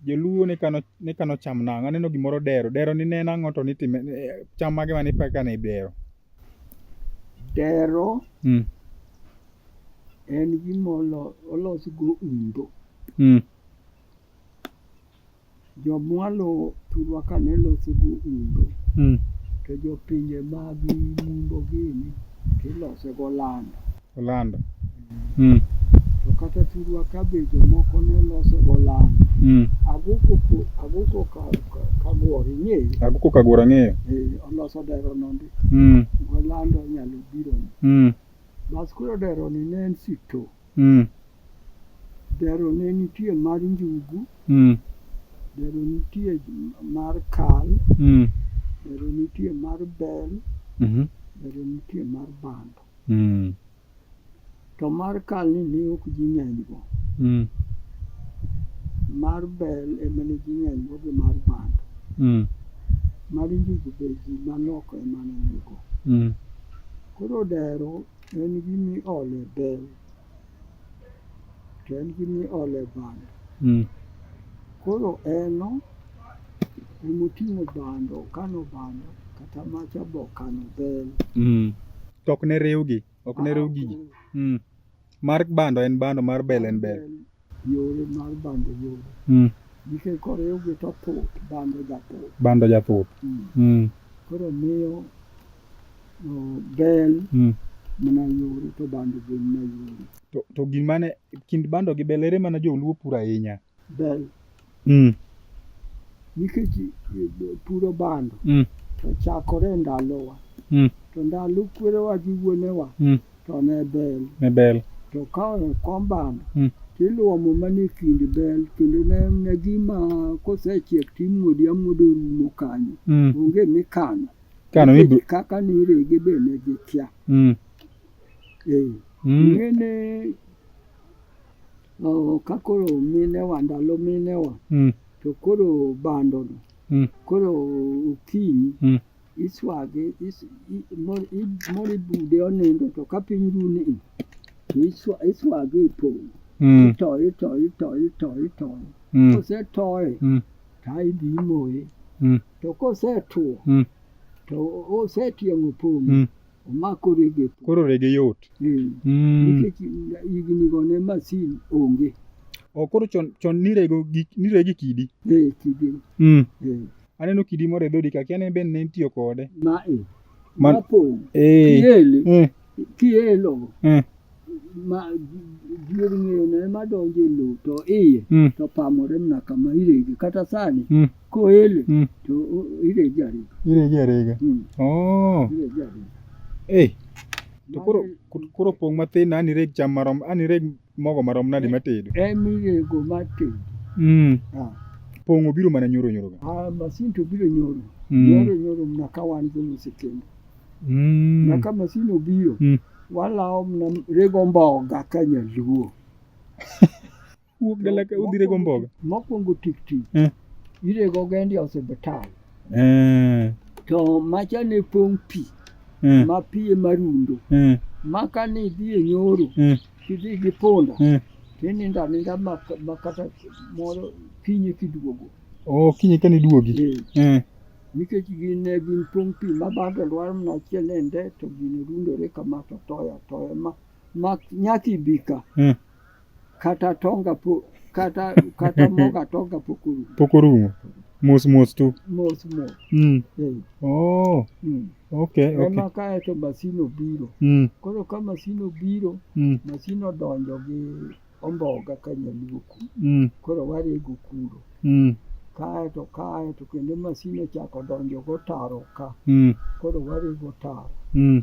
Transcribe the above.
Joluo ne kano ne kano cham nang'o? Aneno gimoro dero. Dero ni ne en ang'o to nitime eh, cham mage mane ipaka ne dero? Dero Mm. en gima olo- olos go undo. Mm. Jomwalo thurwa ka ne loso go undo, Mm. to jopinje mag mundo gini to iloso go lando. Olando. Mm. To kata thurwa ka be jomoko ne lose golando. Mm. Aguko ko- aguko ka ka- kabuor ing'eyo. Aguko kaguor ang'eyo. Eh, oloso dero nondi. Mm. Golando nyalo biro. Mm. Bas koro dero ni ne en sito. Mm. Dero ne nitie mar njugu. Mm. Dero nitie mar kal. Mm. Dero nitie mar bel. Mhm. Dero nitie mar bando. Mm. To mar kal ni ne ok ji ng'eny go. Mm. Mar bel ema ne ji ng'eny go gi mar bando. Mm. Mar njugu be ji manok ema ne nigo. Mm. Koro dero en gima iole bel to en gi miole bando mm. koro eno emoting'o bando kano bando kata macha bo kano bel mm. to ok ne riwgi ok ne ah, riw gigi mm. mar bando en bando mar bel en bel yore mar bando yore mm. nikech koriwgi to thuth bando jathuth bando jathuth mm. mm. koro miyo bel mm. mana yore to bando be mana yore to, to gimane kind bando gi bel ere mana joluo puro ahinya bel mm. nikech eh, puro bando mm. to chakore e ndalowa mm. to ndalo kwerewa gi wuonewa mm. to ne bel ne bel to ka okom bando mm. tiluomo mana e kind bel kendo ne, ne gima kosechiek timuodi amuodo rumo kanyo mm. onge mikano kano ibro... kaka nirege be ne gikia mm. eh. mm. ng'ene ka koro mine wa ndalo mine wa mm. to koro bando no mm. koro okinyi mm. iswage is, mori bude onindo to ka piny runi to iswage e pong mm. itoye itoye itoye itoye itoye mm. kosetoye mm. ta idhi imoye mm. to kosetwo mm. to osetieng'o pong mm. omako rege e pi. Koro rege yot. Eh, Mm. Nikech hignigo ne masin onge. O, koro chon chon nirego gi nirege kidi. Eh, kidi. Mm. Eh, Aneno kidi moro e dhodi ka kia ne ben ne itiyo kode. ma e. Man- Mapong'. Eh. Kiele. Eh. Kielo. Eh. ma dier ng'eyo ne ma donjo e lowo to iye mm. to pamore mana kama irege kata sani mm. koele mm. to irege arega irege arega mm. oh. irege arega hey. to koro koro pong' mathin an ireg cham marom an ireg mogo marom nadi eh, matedo en irego matedo mm. ah. pong' obiro mana nyoro nyoro ga ah, masin to biro nyoro mm. nyoro nyoro mana ka wan go mosekendo mm. na ka masin obiro mm. walawo mna rego mboga ka nyaluo wuok dala ka udhi rego mboga mokwongo tikti eh. irego gendi osiptal eh. to macha ne pong' pi eh. ma pi ema rundo eh. ma ka ni idhi e nyoro eh. tidhi gi punda eh. tinindo aninda ma, ma kata moro kinye kiduogo oh, kinye ka niduogi eh. eh. Nikech gin ne gin tong' pi ma bando lwar mana achiel e nde to gine rundore kama to toyo atoya ma ma nyaka ibi ka Mm. kata tonga po kata kata moga tonga pok orumo Pok orumo. Mos mos tu. mos mos Mm. eh, Oh, mm. okay, okay. ema kae to masin obiro Mm. koro ka masin obiro Mm. masin odonjo gi omboga ka nyaluo kuno mm. koro warego kuro mm. kaeto kaeto kendo masin ochako donjo gotaro ka mm. koro warego taro mm.